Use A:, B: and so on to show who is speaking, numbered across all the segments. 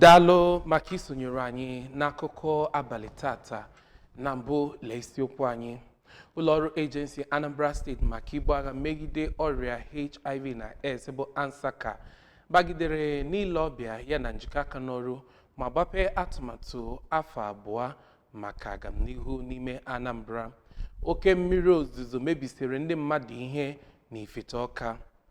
A: daalụ maka isonyere anyị n'akụkọ abalị tata na mbụ lee isiokwu anyị ụlọọrụ agency anambra state maka ibu agha megide ọrịa hiv na aids bụ ansaca bagidere n'ile ọbịa ya na njikọ aka n'ọrụ ma gbapee atụmatụ afọ abụọ maka agamnihu n'ime anambra oke mmiri ozuzo mebisiri ndị mmadụ ihe na ifite ọka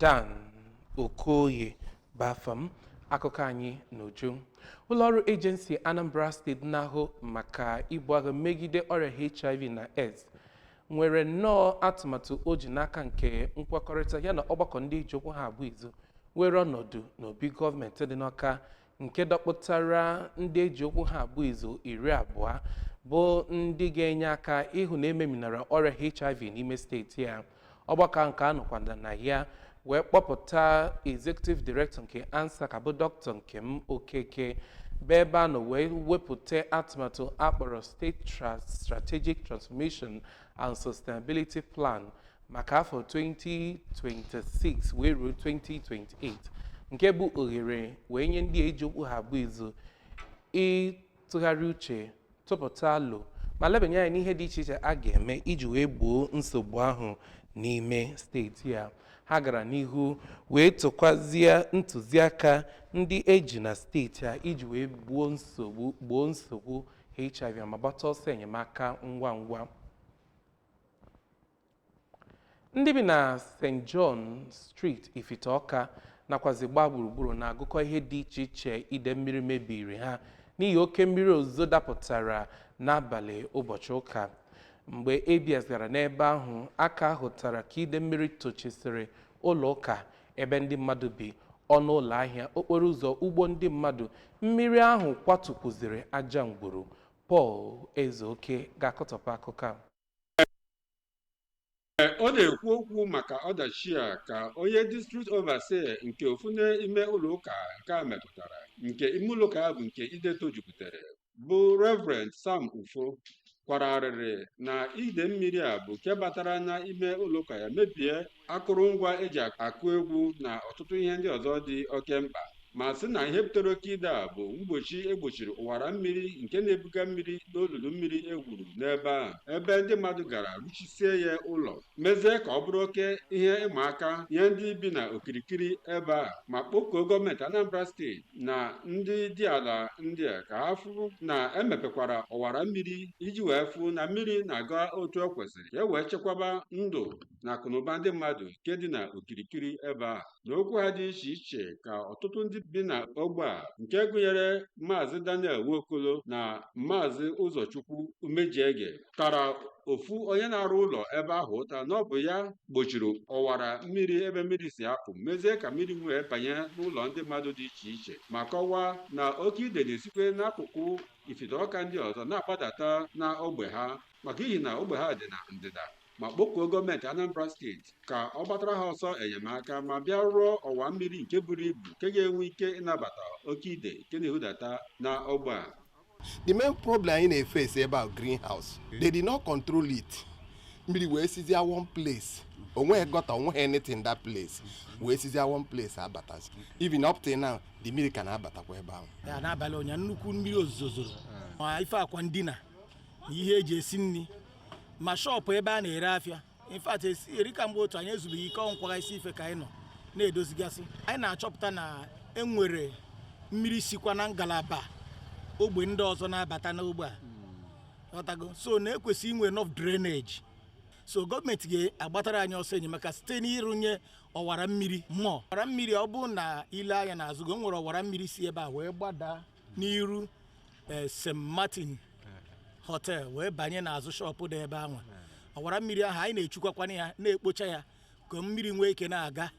A: Dan Okoye bụ afa m akụkọ anyị n'uju ụlọọrụ agency Anambra state na-ahụ maka ibu agha megide ọrịa HIV na AIDS nwere nnọọ atụmatụ o ji n'aka nke nkwekọrịta ya na ọgbakọ ndị eji okwu ha abụ izu were ọnọdụ n'obi gọọmenti dị n'Ọka nke dọkpụtara ndị eji okwu ha abụ izu iri abụọ bụ ndị ga-enye aka ịhụ na ememinara ọrịa hiv n'ime steeti a ọgbakọ nke a nọkwada na ya wee kpọpụta executive director nke ansaca bụ doctor nkem okeke bụ ebe a nọ wee wepụta atụmatụ akpọrọ state strategic transformation and sustainability plan maka afọ 2026 wee ruo 2028 nke bụ ohere wee nye ndị eji okwu ha abụ izu ịtụgharị uche tụpụta alo ma lebanye anya n'ihe dị iche iche a ga-eme iji wee gboo nsogbu ahụ n'ime steeti a ha gara n'ihu wee tụkwazie ntụziaka ndị eji na steeti a iji wee gbo gboo nsogbu hiv ma gbata ọsọ enyemaka ngwa ngwa ndị bi na st john street ifite ọka nakwazi gbaa gburugburu na-agụkọ ihe dị iche iche ide mmiri mebiri ha n'ihi oke mmiri ozuzo dapụtara n'abalị ụbọchị ụka mgbe abs gara n'ebe ahụ a ka hụtara ka ide mmiri tochisịrị ụlọ ụka ebe ndị mmadụ bi ọnụ ụlọ ahịa okporo ụzọ ugbo ndị mmadụ mmiri ahụ kwatukwuziri aja ngwuru Paul Ezeoke ga-akọtọpụ akụkọ
B: a. Ọ na-ekwu okwu maka ọdachi a ka onye district overseer nke ofu n'ime ụlọụka nke a metụtara nke ime ụlọụka ya bụ nke ide tojupụtara bụ Reverend Sam Ufo kwara arịrị na ide mmiri a bụ nke batara na ime ụlọụka ya mebie akụrụngwa eji akụ egwu na ọtụtụ ihe ndị ọzọ dị oke mkpa ma sị na ihe butere oke ide a bụ mgbochi egbochiri ọwara mmiri nke na-ebuga mmiri n'olulu mmiri e gwuru n'ebe ahụ ebe ndị mmadụ gara rụchisie ya ụlọ mezie ka ọ bụrụ oke ihe ịma aka nye ndị bi na okirikiri ebe ahụ ma kpọkuo gọọmenti Anambra steeti na ndị dị ala ndị a ka ha fụ na emepekwara ọwara mmiri iji wee fụ na mmiri na-aga otu o kwesịrị ka e wee chekwaba ndụ na akụnụba ndị mmadụ nke dị na okirikiri ebe a na okwu ha dị iche iche ka ọtụtụ ndị bi na ogbe a nke gụnyere maazị Daniel Nwokolo na maazị Ụzọchukwu Umejiege tara ofu onye na-arụ ụlọ ebe ahụ ụta na ọ bụ ya gbochiri ọwara mmiri ebe mmiri si apụ mezie ka mmiri wee banye n'ụlọ ndị mmadụ dị iche iche ma kọwaa na oke ide na-esikwe n'akụkụ Ifite Ọka ndị ọzọ na-agbadata na ogbe ha maka ihi na ogbe ha dị na ndịda ma kpọkuo gọọmenti Anambra steeti ka ọ gbatara ha ọsọ enyemaka ma bịa rụọ ọwa mmiri nke buru ibu nke ga-enwe ike ịnabata oke ide nke na-ehudata na ogbe a the main
C: problem anyị na-efesi ebe a drainage they did not control it mmiri wee sizia one place onweghị gọta onweghị anything that place wee sizia one place abatazi even up till now the mmiri ka na-abatakwa ebe ahụ ya n'abalị ụnyaahụ nnukwu
D: mmiri ozuzo zoro ma ife akwa ndina na ihe eji esi nri ma shọpụ ebe a na-ere afịa in fact eri ka mgbe otu anyị ezubeghị ike ọ bụ ịkwagasị ife ka anyị nọ na-edozigasị anyị na-achọpụta na enwere mmiri sikwa na ngalaba ogbe ndị ọzọ na-abata n'ogbe a ọtago so na-ekwesị inwe enough drainage so gọọmenti ga-agbatara anyị ọsọ enyemaka site n'ịrụnye ọwara mmiri mmụọ ọwara mmiri ọ bụ na i lee anya n'azụ gị e nwere ọwara mmiri si ebe a wee gbadaa n'iru eh, st martin hotel wee banye n'azụ shọpụ dị ebe ahụ ọwara mmiri ahụ anyị na-echukwakwana ya na-ekpocha ya ka mmiri nwee ike na-aga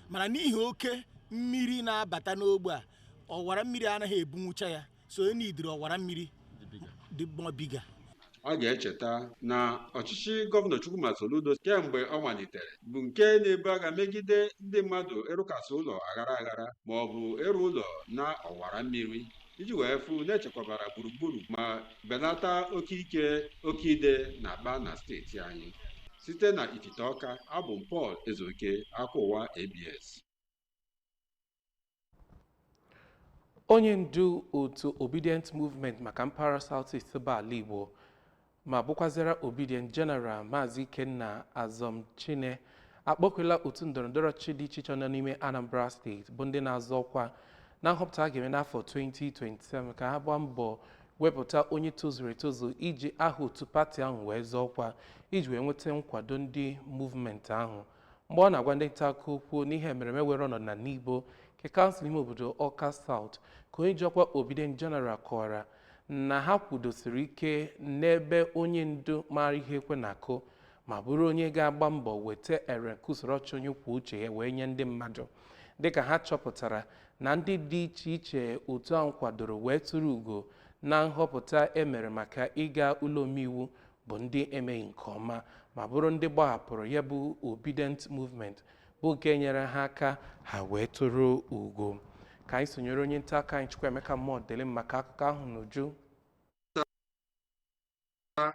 D: mana n'ihi oke mmiri na-abata n'ogbe a ọwara mmiri anaghị ebunwucha ya so e nidiri ọwara mmiri dị more bigger a
B: ga-echeta na ọchịchị gọvanọ Chukwuma Soludo kemgbe ọ malitere bụ nke na-ebu agha megide ndị mmadụ ịrụkasị ụlọ aghara aghara ma ọ bụ ịrụ ụlọ na ọwara mmiri iji wee fụ na echekwabara gburugburu ma belata oke ike oke ide na-akpa na steeti anyị site na Ifite Ọka abụ m Paul Ezeoke akụkọ ụwa ABS
A: onye ndu otu obidient movement maka mpaghara south east bụ ala igbo ma bụkwazịra obidient general maazị ikenna azọmchine akpọkuola otu ndọrọndọrọ ọchịchị dị iche iche nọ n'ime anambra steeti bụ ndị na-azọ ọkwa na nhọpụta a ga-eme n'afọ 2027 ka ha gbaa mbọ wepụta onye tozuru etozu iji aha otu pati ahụ wee zọọ ọkwa iji wee nweta nkwado ndị movement ahụ mgbe ọ na-agwa ndị nta akụkọ okwu n'ihe mmereme were ọnọdụ na Nibo nke kansụl ime obodo Ọka South ka onye ji ọkwa Obidient General kọwara na ha kwudosiri ike n'ebe onye ndu maara ihe ekwe na-akụ ma bụrụ onye ga-agba mbọ weta ere nke usoro ọchịchị onye kwuo uche ya wee nye ndị mmadụ dịka ha chọpụtara na ndị dị iche iche otu ahụ kwadoro wee turu ugo na nhọpụta e mere maka ịga ụlọ omeiwu bụ ndị emeghị nke ọma ma bụrụ ndị gbahapụrụ ya bụ Obidient movement bụ nke nyere ha aka ha wee tụrụ ugo ka anyị sonyere onye nta aka anyị Chukwuemeka Modilim maka akụkọ ahụ
E: n'uju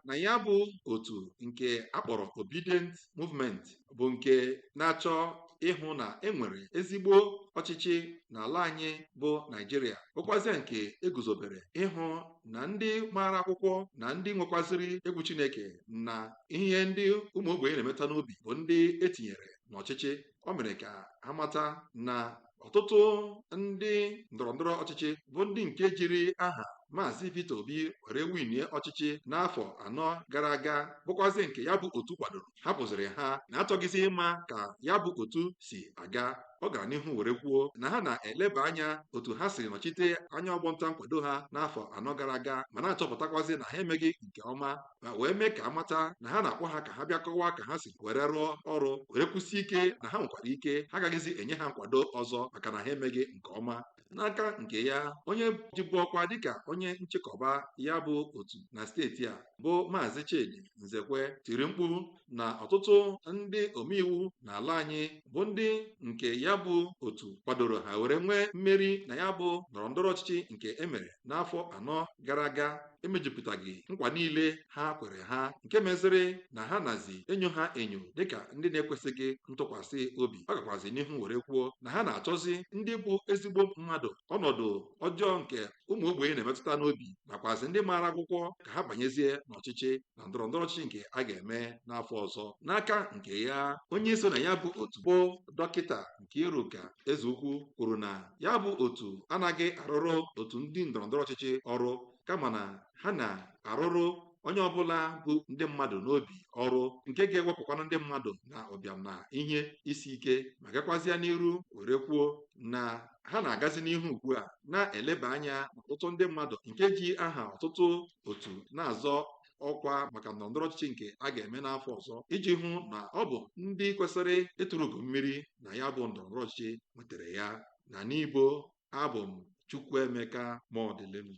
E: na ya bụ otu nke akpọrọ Obidient movement bụ nke na-achọ ịhụ na enwere ezigbo ọchịchị n'ala anyị bụ Naijiria bụkwazịa nke eguzobere ịhụ na ndị maara akwụkwọ na ndị nwekwaziri egwu Chineke na ihe ndị ụmụ ogbenye na-emeta n'obi bụ ndị etinyere n'ọchịchị o mere ka ha mata na ọtụtụ ndị ndọrọndọrọ ọchịchị bụ ndị nke jiri aha maazị Peter Obi were winie ọchịchị n'afọ anọ gara aga bụkwazi nke ya bụ otu kwadoro hapụziri ha na achọghịzi ịma ka ya bụ otu si aga ọ gara n'ihu were kwuo na ha na-eleba anya otu ha siri nọchite anya ọgbọnta nkwado ha n'afọ anọ gara aga ma na-achọpụtakwazi na ha emeghị nke ọma ma wee mee ka amata na ha na-akpọ ha ka ha bịa kọwaa ka ha si were rụọ ọrụ were kwusi ike na ha nwekwara ike ha agaghịzi enye ha nkwado ọzọ maka na ha emeghị nke ọma n'aka nke ya onye jibu ọkwa dịka onye nchịkọba ya bụ otu na steeti a bụ maazị Chidi Nzekwe tiri mkpu na ọtụtụ ndị omeiwu n'ala anyị bụ ndị nke ya bụ otu kwadoro ha were nwee mmeri na ya bụ ndọrọ ndọrọ ọchịchị nke emere n'afọ anọ gara aga emejupụtaghị nkwa niile ha kwere ha nke meziri na ha nazi enyo ha enyo dịka ndị na-ekwesịghị ntụkwasị obi ọ gakwazi n'ihu were kwuo na ha na-achọzi ndị bụ ezigbo mmadụ ọnọdụ ọjọọ nke ụmụ ogbenye na-emetụta n'obi nakwazi ndị maara akwụkwọ ka ha banyezie n'ọchịchị na ndọrọ ndọrọ ọchịchị nke a ga-eme n'afọ ọzọ n'aka nke ya onye so na ya bụ otu bụ dọkịta Nkiruka Ezeukwu kwuru na ya bụ otu anaghị arụrụ otu ndị ndọrọ ndọrọ ọchịchị ọrụ kama na ha na-arụrụ onye ọbụla bu ndị mmadụ n'obi ọrụ nke ga-ewepụkwana ndị mmadụ na ụbịam na ihe isi ike ma gakwazịa n'iru were kwuo na ha na-agazi n'ihu ugbu a na-eleba anya n'ọtụtụ ndị mmadụ nke ji aha ọtụtụ otu na-azọ ọkwa maka ndọrọndọrọ ọchịchị nke a ga-eme n'afọ ọzọ iji hụ na ọ bụ ndị kwesịrị ịtụrụ ugo mmeri na ya bụ ndọrọndọrọ ọchịchị nwetara ya na Nibo abụ m Chukwuemeka Modilim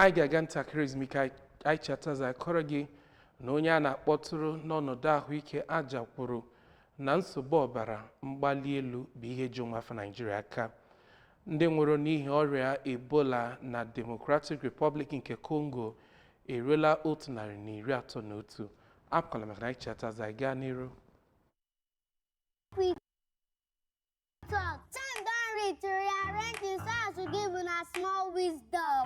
A: anyị ga-aga ntakịrị ezumike anyị chighata azụ akọrọ gị na onye a na-akpọtụrụ n'ọnọdụ ahụike aja kwuru na nsogbu ọbara mgbali elu bụ ihe ji ụmụafọ Naijiria aka Ndị nwụrụ n'ihi ọrịa Ebola na Democratic Republic nke Congo eruola otu narị na iri atọ na otu. Apụkwala maka na anyị chighata azụ anyị gaa
F: n'iru. Talk. Time don reach to rearrange the sounds to give una small wisdom.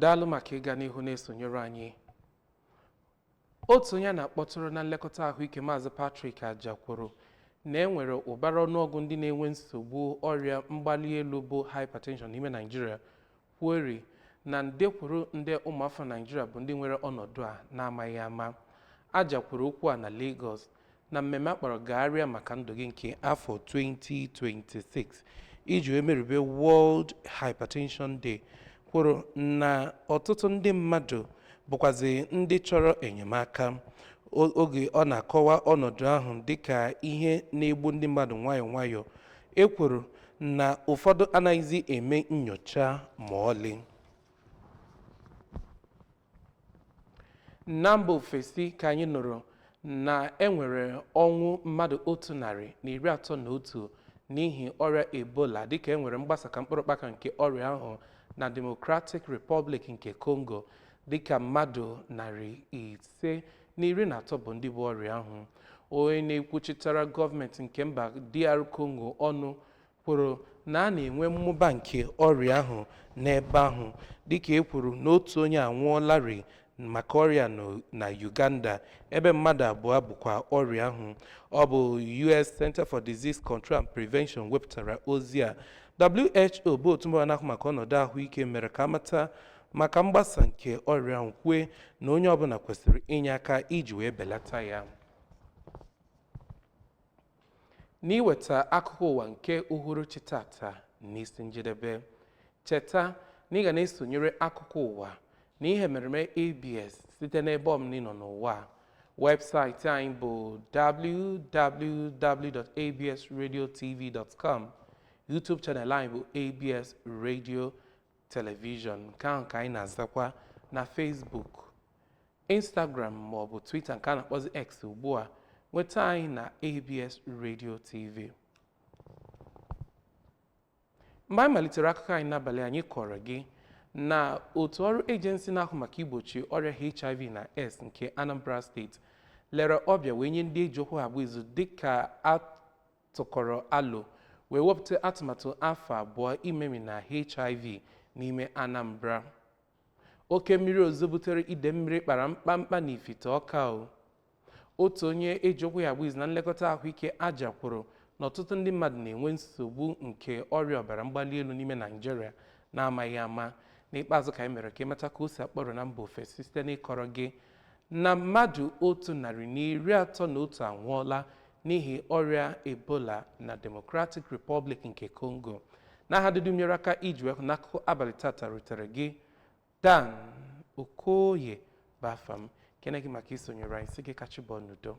A: Daalụ maka ịga n'ihu na-esonyere anyị. Otu onye a na-akpọtụrụ na nlekọta ahụike Maazị Patrick Ajah kwuru na e nwere ụbara ọnụọgụ ndị na-enwe nsogbu ọrịa mgbali elu bụ hypertension n'ime Naịjirịa kwueri na nde kwuru nde ụmụafọ Naịjirịa bụ ndị nwere ọnọdụ a na-amaghị ama. Ajah kwuru okwu a na Lagos na mmemme a kpọrọ gagharịa maka ndụ gị nke afọ 2026 iji wee merube World Hypertension Day kwuru na ọtụtụ ndị mmadụ bụkwazi ndị chọrọ enyemaka oge ọ na-akọwa ọnọdụ ahụ dịka ihe na-egbu ndị mmadụ nwayọọ nwayọọ e kwuru na ụfọdụ anaghịzi eme nyocha ma ọlị na mba ofesi ka anyị nụrụ na e nwere ọnwụ mmadụ otu narị na iri atọ na otu n'ihi ọrịa ebola dịka e nwere mgbasa ka mkpụrụ ụkpaka nke ọrịa ahụ na Democratic Republic nke Congo dịka mmadụ narị ise na iri na atọ bụ ndị bu ọrịa ahụ onye na-ekwuchitara gọọmenti nke mba DR Congo ọnụ kwuru na a na-enwe mmụba nke ọrịa ahụ n'ebe ahụ dịka e kwuru na otu onye anwụọlarị maka ọrịa na Uganda ebe mmadụ abụọ bukwa ọrịa ahụ ọ bụ US Center for Disease Control and Prevention wepụtara ozi a WHO bụ otu mba na-ahụ maka ọnọdụ ahụike mere ka a mata maka mgbasa nke ọrịa ahụ kwue na onye ọbụla kwesịrị inye aka iji wee belata ya n'iweta akụkọ ụwa nke uhuruchi tata n'isi njedebe cheta na ị ga na-esonyere akụkọ ụwa na ihe emereme abs site n'ebe ọbụna ị nọ n'ụwa webụsaịtị anyị bụ www.absradiotv.com youtube channel anyị bụ abs radio telivishọn nke ahụ ka anyị na-azakwa na Facebook Instagram ma ọ bụ Twitter nke a na-akpọzi X ugbu a nweta anyị na ABS Radio TV mgbe anyị malitere akụkọ anyị n'abalị anyị kọrọ gị na otu ọrụ ejensi na-ahụ maka igbochi ọrịa HIV na AIDS nke Anambra steeti lere ọbịa wee nye ndị e ji okwu ha agba izu dịka a tụkọrọ alo wee wepụta atụmatụ afọ abụọ imemina HIV n'ime Anambra. Oke mmiri ozuzo butere ide mmiri kpara mkpamkpa n'Ifite Ọka o. Otu onye e ji okwu ya agba izu na nlekọta ahụike Ajah kwuru na ọtụtụ ndị mmadụ na-enwe nsogbu nke ọrịa ọbara mgbali elu n'ime Naịjirịa na-amaghị ama. N'ikpeazụ ka anyị mere ka ị mata ka o si akpọrọ na mba ofesi site n'ịkọrọ gị na mmadụ otu narị na iri atọ na otu anwụọla n'ihi ọrịa Ebola na Democratic Republic nke Congo n'aha ndị dum nyere aka iji wee hụ na akụkọ abalị tata rutere gị Dan Okoye bụ afa m kene gị maka isonyere anyị sị gị ka chi bọọ n'udo